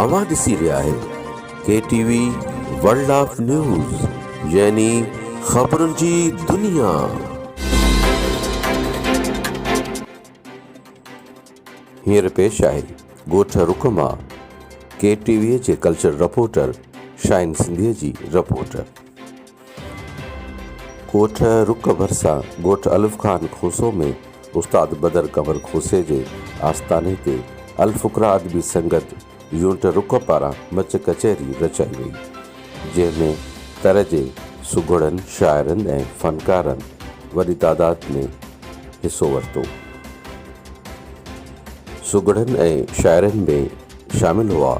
اوهان ڏسي رهيا آهيو K T V world of news يعني خبرن جي دنيا. هينئر پيش آهي ڳوٺ رڪ مان ڪي ٽي وي جي ڪلچر رپورٽر شاهين سنڌيء جي رپورٽ. ڳوٺ رڪ ڀرسان ڳوٺ الف خان کوسو ۾ استاد بدر قمر کوسي جي آستاني تي الفقراء ادبي سنگت يونٽ رڪ پاران مچ ڪچهري رچائي وئي، جنهن ۾ تر جي سگهڙن شاعرن ۽ فنڪارن وڏي تعداد ۾ حصو ورتو. سگهڙن ۽ شاعرن ۾ شامل هئا،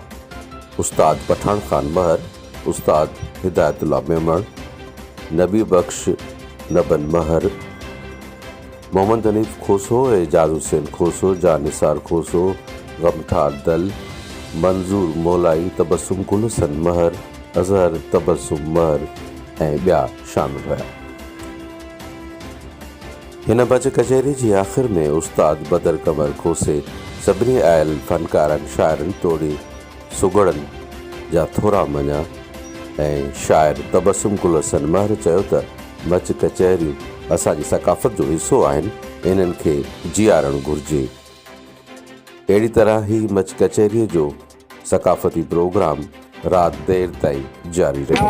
استاد پٺاڻ خان مهر، استاد هدايت الله ميمڻ، نبي بخش نبن مهر، محمد حنيف کوسو، اعجاز حسين کوسو، جان نثار کوسو، غمخار دل، منظور مولائي، تبسم گل حسن مهر، اظهر تبسم مهر ۽ ٻيا شامل هيا. هن بچ ڪچهري جي آخر ۾ استاد بدر قمر کوسي سڀني آيل فنڪارن، شاعرن توڙي سگهڙن جا ٿورا مڃيا ۽ شاعر تبسم گل حسن مهر چيو ته مچ ڪچهريون اسان جي ثقافت جو حصو آهن، انهن کي جيارڻ گهرجي. اهڙي طرح هي مچ ڪچهريء جو ثقافتي پروگرام رات دير تائين جاري رهيو.